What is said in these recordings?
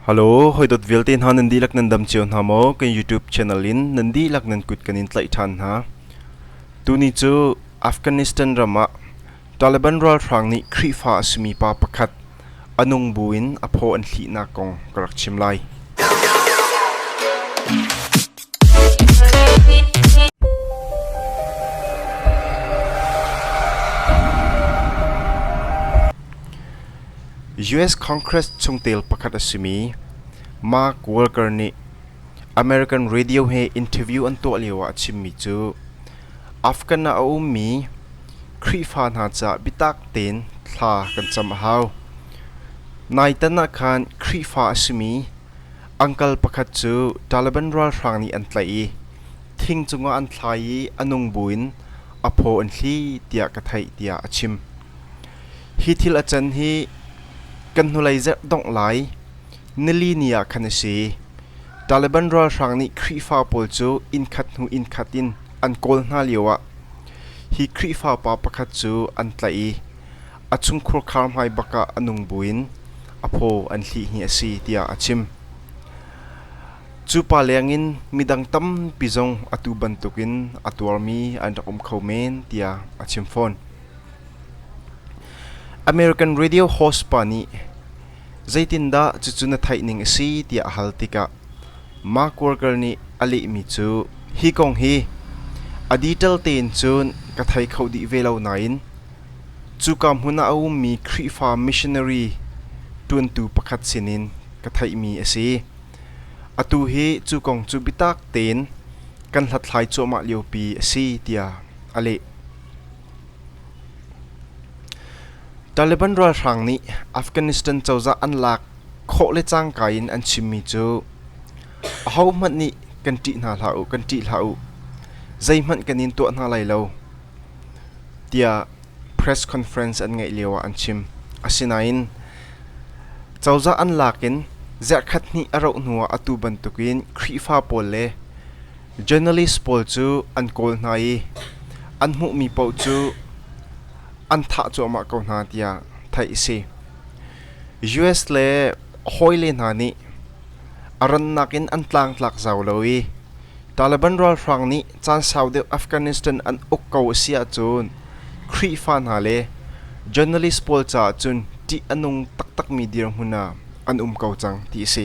Halo, hawidot vialte hna nan dihlak nan dam cio hna maw? Kan YouTube channel in nan dihlak nan kut kan in tlaih ṭhan hna. Tuni cu Afghanistan ram ah Taliban ralhrang nih Khrihfa a simi pa pakhat a nung bu in a phaw an hlihnak kong ka rak chim lai. US Congress chungtel pakhat a simi Mark Walker nih American radio he interview an tuah lioah a chimmi cu Afghan ah a ummi Khrihfa hna caah biatak tein thla kan cam a hau. Nai tan ah khan Khrihfa a simi angkal pakhat cu Taliban ralhrang nih an tlaih i thing cungah an thlai i a nung buin a phaw an thli tiah ka theih tiah a chim. Hi thil a can hi kan hnulei zarh dongh lai nili ni ah khan a si. Taliban ralhrang nih Khrihfa pawl cu innkhat hnu innkhat in an kawl hna lioah hi Khrihfa pa pakhat cu an tlaih i a chungkhur khar hmai bak ah a nung buin a phaw an hlih hi a si tiah a chim. Cu pa lengin midang tampi zong atu bantukin a tuarmi an rak um kho men tiah a chim fawn. American radio host pa nih zeitindah cucu na theih ning a si tiah a hal tikah Mark Walker nih a lehmi cu hi kong hi a detail tein cun ka thei kho dih ve lo nain cuka hmun ah a ummi Khrihfa missionary ṭuantu pakhat sinin ka theihmi a si. Atu hi cu kong cu biatak tein kan hlathlai cuahmah liopi a si tiah a leh. Taliban ralhrang nih Afghanistan cozah an lak khawh le cangka in an chimmi cu ahohmanh nih kan ṭih hna hlah u, kan ṭih hlah u, zeihmanh kan in tuah hna lai lo tiah press conference an ngeih lio ah an chim. Asinain cozah an lak in ziarkhat hnih a rauh hnu ah atu bantuk in Khrihfa pawl le Journalist pawl cu an kawl hna i an hmuhmi paoh cu an thah cuahmah ko hna tiah theih a si. US le hawile hna nih a rannak in an tlangtlak zau lo i Taliban ralhrang nih caan sau deuh Afghanistan an uk ko a si ahcun Khrihfa hna le journalist pawl caah cun ṭih a nung taktakmi dirhmun ah an um ko cang ti a si.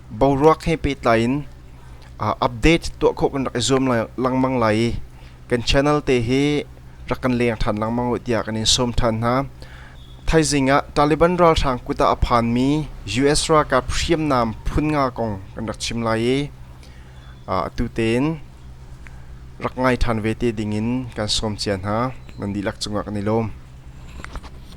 boruak he pehtlai in update tuah khawh kan rak i zuam lengmang lai i kan channel te hi rak kan leng ṭhan lengmang uh tiah kan in sawm ṭhan hna. Thaizing ah Taliban ralhrang kut ah a phanmi US ralkap hriamnam phun nga kong kan rak chim lai i atu tein rak ngai ṭhan ve te ding in kan sawm cia hna. Nan dihlak cungah kan i lawm.